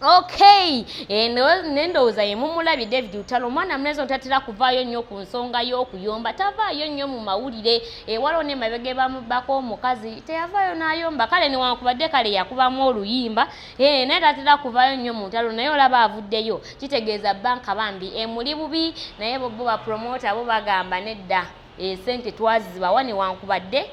okay nendowooza yemumulabye david utalo omwana mulenzi otatera kuvaayo nnyo ku nsonga y'okuyomba tavaayo nnyo mu mawulire ewaliwo nemabega ebamubbako omukazi teyavaayo n'ayomba kale newankubadde kale yakubamu oluyimba eh, naye tatera kuvaayo nnyo mu ntalo naye olaba avuddeyo kitegeeza banka bambi emuli bubi naye bbo bapromota bo bagamba nedda esente twazibawa newankubadde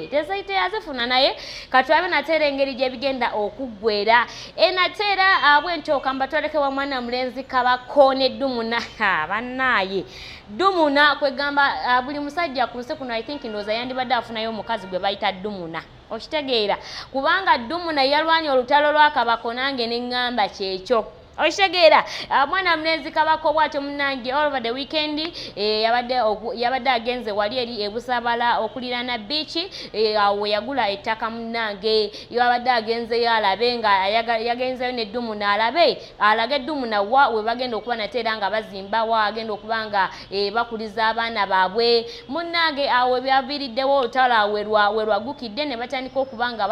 tezayite yazifuna naye katulabe nate era engeri gyebigenda okuggwera e, nate era ah, bwentyoka mbatwalekewa mwana mulenzi kabako ne dumuna bannaaye dumuna kwegamba ah, buli musajja ku nsi kuno i think ndowooza yandibadde afunayo omukazi gwe bayita dumuna okitegeera kubanga dumuna yalwanya olutalo lwakabako nange ne ŋŋamba kyekyo okitegeera ah, mwana mulenzi kabako bwatyo munange all over the weekend eh, yabadde agenze wali eri ebusabala okulirana biiki eh, awo weyagula ettaka munange yabadde agenzeyo alabe nga yagenzeyo neddumu naalabe alage eddumu nawa webagenda okuba nate era nga bazimba wa agenda okuba nga eh, bakuliza abaana baabwe munange awo ebyaviiriddewo olutalo awo werwagukidde ne batandika okuba nga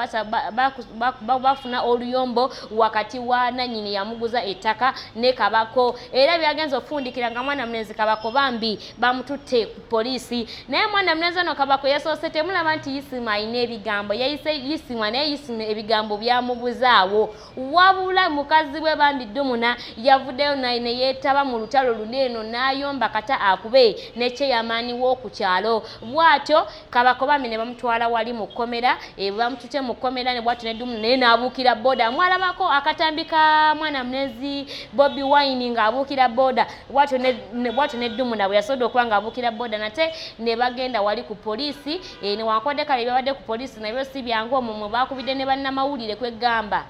bafuna oluyombo wakati wa nanyini yamuguza ettaka ne kabako era byagenza okufundikira nga mwana mulenzi kabako bambi bamututte ku poliisi naye mwana mulenzi ono kabako yasoose temulaba nti yisimu alina ebigambo yayise yisimu naye yisimu ebigambo byamubuzaawo wabula mukazi we bambi dumuna yavuddeyo naye neyeetaba mu lutalo luli eno n'ayomba kata akube nekyeyamaaniwo ku kyalo bw'atyo kabakobami ne bamutwala wali mu kkomera eh, bamutute mu kkomera ne bwatu ne dumu naye n'abuukira booda mwalabako akatambi ka mwana munezi bobi wine ng'abuukira booda bwatu ne dumu nabwe yasobodde okuba ng'abuukira booda nate ne bagenda wali ku poliisi eh, newankubadde kale byabadde ku poliisi nabyo si byangu omumwe baakubidde ne bannamawulire kwegamba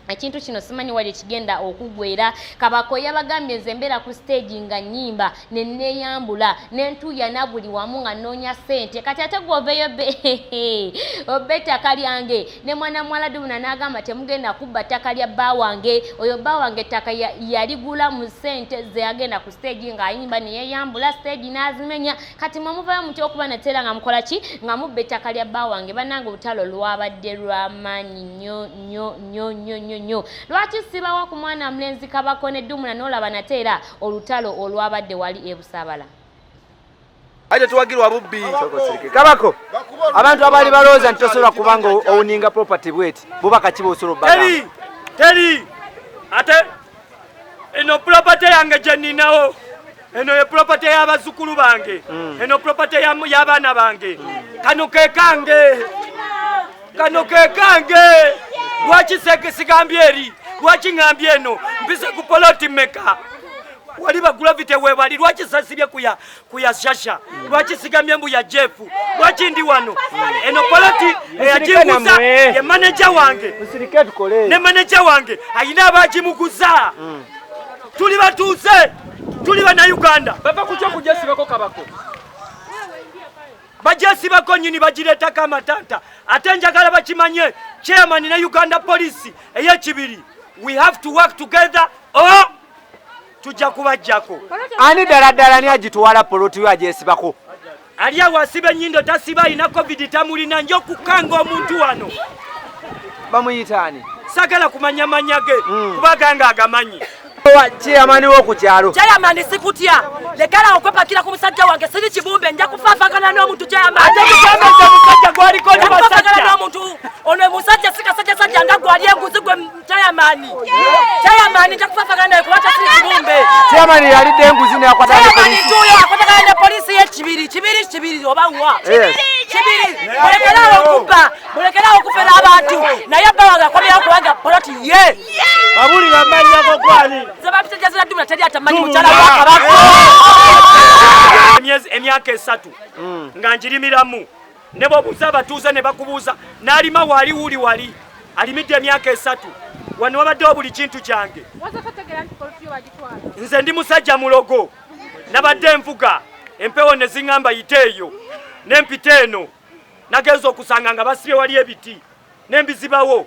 ekintu kino simanyi wali ekigenda okugwera kabako yabagambye nze mbeera ku siteegi nga nyimba neneyambula nentuuyana buli wamu nga nnoonya ssente kati ate gwoveyo oba ettaka lyange ne mwana muwala dubuna n'agamba temugenda kubba ttaka lya bba wange oyo bba wange ettaka yaligula mu ssente ze yagenda ku siteegi ng'ayimba neyeyambula siteegi n'azimenya kati mwe muvayo mutya okuba nateera nga mukola ki nga mubba ettaka lya bba wange bannange olutalo lwabadde lwamaanyi nnyo nyo nyo nyo nyo nyo lwaki sibawa ku mwana mlenzi kabako ne dumuna nolaba nate era olutalo olwabadde wali ebusabala aje tuwagirwa bubbi kabako abantu abali balooza nti tosobola kubanga owuninga property bweti bubaka kiba osobola teri teri ate eno pulopate yange gye nninawo eno ye pulopate y'abazzukulu bange mm. eno pulopate y'abaana bange kano ke kange kano ke kange lwaki sigambye eri lwaki ŋambye eno mpise ku poloti meka wali bagulavite webali lwaki sasibye kuya kuyashasha lwaki sigamye mbu ya jeff lwaki ndi wano eno poloti eyagimuza ye maneja wange ne maneja wange ayina abagimuguza mm. tuli batuuze tuli banauganda bava kukyo kujasibako kabako bajesibako nyini bagireetako amatanta ate njagala bakimanye chairman ne uganda police eyekibiri we have to work together or tujja kubajjako ani ddala ddala ni agitwala poloti yo agyesibako ali awo asiba enyindo tasiba alina covid tamulina nja okukanga omuntu wano bamuyitaani sagala kumanya manya ge hmm. kuba ganga agamanyi chairman wo ku kyalo chairman sikutya lekala okwepakira ku musajja wange siri kibumbe nja kufafagana n'omuntu chairman ate kugamba nti omusajja gwaliko ne basajja n'omuntu ono musajja sikasajja sajja nga gwali enguzi gwe Chairman. Chairman chakufafagana kuwacha siri kibumbe. Chairman yali dengu zine ya kwata polisi. Chairman tuyo akwata kana polisi ye chibiri chibiri chibiri oba ngwa. Chibiri. Chibiri. Mulekera okupa. Mulekera okufera abantu. Na yabba wanga kwa ya kuwaga poloti ye. Babuli ngamanya kwa kwani. Zaba pita jazira dumna tadi atamani mchala waka bako. Emyezi emyaka esatu. Mm. Nganjiri miramu. ne bwobuuza abatuuze ne bakubuuza n'alima wali wuli wali alimidde emyaka esatu wano wabaddewo buli kintu kyange nze ndi musajja mulogo nabadde envuga empewo ne ziŋŋamba yite eyo n'empita eno nagenza okusanga nga basibye wali ebiti n'embizibawo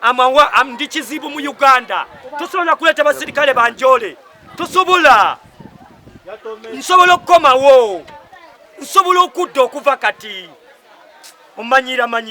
amawa ndi kizibu mu uganda tosobola kuleta basirikale banjole tosobola nsobola okukomawo nsobola okudda okuva kati omanyira manyi